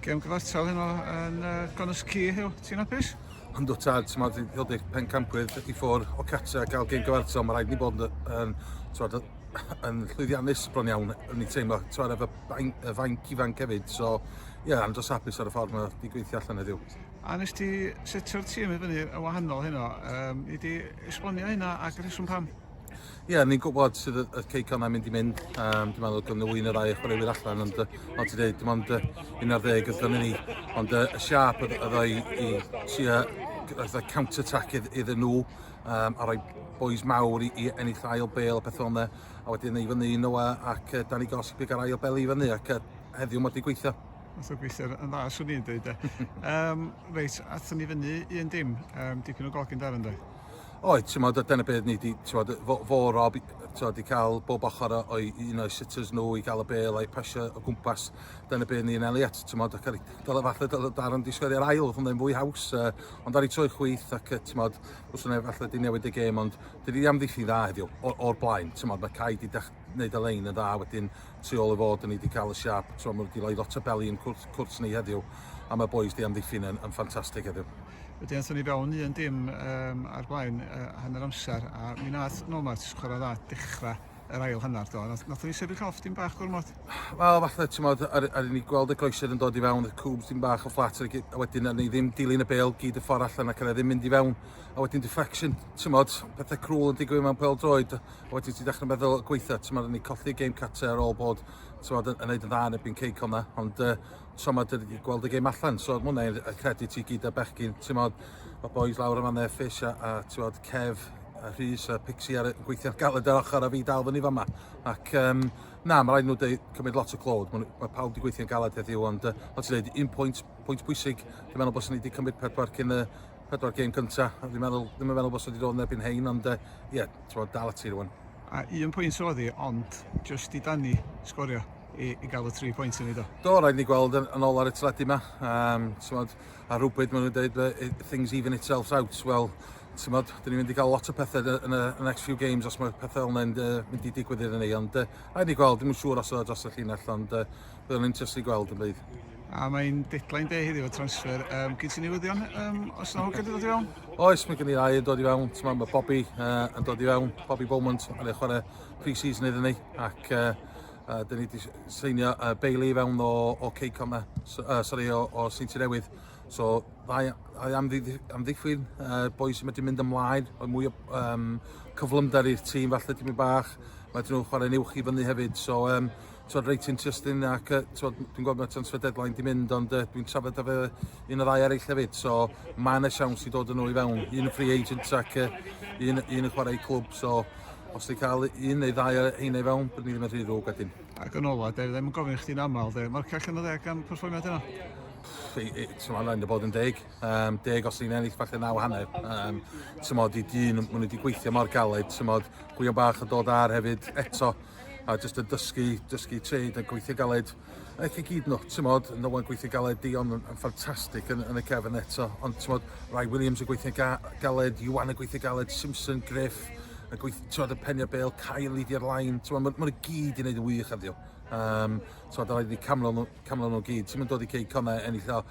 Gem gyfartal heno yn uh, Gronus Cy, Hugh. Ti'n apus? Ond o tad, ti'n meddwl, ti'n dod pen campwyr i ffwr o catra gael gem gyfartal, mae rhaid ni bod yn, twad, yn llwyddiannus bron iawn, yn ni teimlo, twad, efo y fainc ifanc hefyd, so, ie, yeah, andros apus ar y ffordd mae wedi gweithio allan heddiw. A nes ti setio'r tîm i fyny y wahanol heno, um, i di esbonio hynna ac rheswm pam? Ie, yeah, ni'n gwybod sydd y, y ceicon am mynd i mynd. Um, dwi'n meddwl gynnu un o'r ddau chwaraewyr allan, ond fel ti dweud, dim ond uh, un ar ddeg ydyn ni. Ond uh, y siap yddo i, i si a fatha counter-attack iddyn nhw, um, a rhoi boys mawr i, i ennill ail bel a pethau yna, a wedyn ei fyny un oa ac uh, Danny Goss i ar ail bel i fyny, ac uh, heddiw mae wedi gweithio. Mae'n gweithio yn dda, swn i'n dweud. um, reit, athyn ni fyny un dim, um, dipyn o golgyn dar ynddo. Oed, ti'n modd, dyna beth ni wedi, ti'n modd, fo, fo Rob, ti'n wedi cael bob ochr o'i un o'i sitters nhw i gael y bel a'i pasio o gwmpas. Dyna beth ni'n Elliot, ti'n modd, ac ar ei dal y falle dal y dar ond disgwyl i'r ail, oedd yn fwy haws, uh, ond ar ei troi chwyth ac, ti'n modd, os yna falle di newid y gêm, ond dydy di am ddiffyn dda heddiw, o'r blaen, ti'n modd, mae cael di neud y lein yn dda wedyn tu ôl y fod ni wedi cael y siap t'mo' ma' wedi rhoi lot o beli yn cwrt cwrt ni heddiw a mae bois di amddiffyn yn yn ffantastig heddiw. Wedyn athon ni fewn un dim um, ar blaen uh, hanner amser a mi nath Nomad chwarae dda dechrau yr ail hanner do. Nath, nath ni sefyll off dim bach gormod. Wel falle ti'n modd ar, ar ni gweld y groesedd yn dod i fewn, y cwbs dim bach o fflat a wedyn ar ni ddim dilyn y bel gyd y ffordd allan ac yna e ddim mynd i fewn a wedyn deflection, ti'n modd pethau crwl yn digwydd mewn pel droed a wedyn ti'n dechrau meddwl gweithio, ti'n meddwl ni colli game cate ar ôl bod ti'n meddwl yn neud yn dda yn ebyn ceic o'na, ond uh, ti'n meddwl dyn ni gweld y game allan, so mwna i'n credu ti gyd a bechgyn, ti'n meddwl y boys lawr yma neu Fish a, a ti'n meddwl Kev a Rhys a Pixie ar gweithio'n galed ar ochr a fi dal fyny fama. Ac um, na, mae rhaid nhw dweud, cymryd lot o clod, mae, mae pawb wedi gweithio'n galed heddiw, ond uh, ti'n dweud, un pwynt, pwynt pwysig, dwi'n meddwl bod ni wedi cymryd pedwar cyn y, pedwar gêm cynta, a fi'n meddwl, ddim yn meddwl bod sydd wedi dod yn erbyn hein, ond uh, ie, yeah, ti'n bod, dal ati rwan. A un pwynt sydd wedi, ond just i Dani sgorio i, i gael y tri pwynt yn ei do. Do, rhaid ni gweld yn, yn ôl ar y teledu yma. Um, tymod, a rhywbryd maen nhw'n dweud, things even itself out. Wel, tymod, dyn ni'n mynd i gael lot o pethau yn y next few games os mae pethau fel yna'n uh, mynd i digwydd iddyn ni. Ond uh, rhaid ni gweld, ddim yn siŵr os oedd dros y llinell, ond uh, Byddwn yn interested i gweld yn bydd. A mae'n deadline day heddiw o transfer. Um, Gyd ti'n newyddion um, os yna hwgyd yn dod i fewn? Oes, mae gen i rai yn dod i fewn. Mae ma Bobby uh, yn dod i fewn. Bobby Beaumont yn ei chwarae pre-season iddyn ni. Ac uh, uh, dyn ni wedi seinio uh, Bailey i fewn o, o Ceycom na. So, uh, sorry, o, o Seinti Newydd. So, ddau am, am ddiffyn uh, boi sy'n medru mynd ymlaen. Oedd mwy o um, cyflymder i'r tîm falle ti'n mynd bach. Mae dyn nhw'n chwarae'n uwch i fyny hefyd. So, um, Twod reit interesting ac uh, twod, dwi'n gweld mae transfer deadline di mynd ond uh, dwi'n trafod â fe un o ddau eraill hefyd so mae yna siawns i dod yn ôl i fewn un yn free agent ac uh, un, un yn chwarae clwb so os ti'n cael un neu ddau ar heina i fewn, bydd ni ddim yn rhy ddrwg at hyn. Ac yn ola, da ddim yn gofyn chdi'n aml, da. Mae'r cach yn y ddeg am perfformiad yna? Tyma, rhaid y bod yn deg. Um, deg os ni'n ennill falle naw hanner. Um, Tyma, di dyn, maen nhw wedi gweithio mor galed. Tyma, gwion bach yn dod ar hefyd eto. a jyst yn dysgu, dysgu trade a gweithio galed. Aeth i gyd nhw, ti'n modd, yn ôl yn gweithio galed, Dion yn, yn ffantastig yn, yn y cefn eto, ond ti'n modd, Rai Williams yn gweithio ga, galed, Iwan yn gweithio galed, Simpson, Griff, y gweith, ti'n modd, y penio bel, Kyle i di'r lain, ti'n modd, mae'n gyd i wneud yn wych heddiw. Um, ti'n modd, rhaid i camlo nhw, camlo nhw gyd, ti'n modd dod i cei conau ennill o,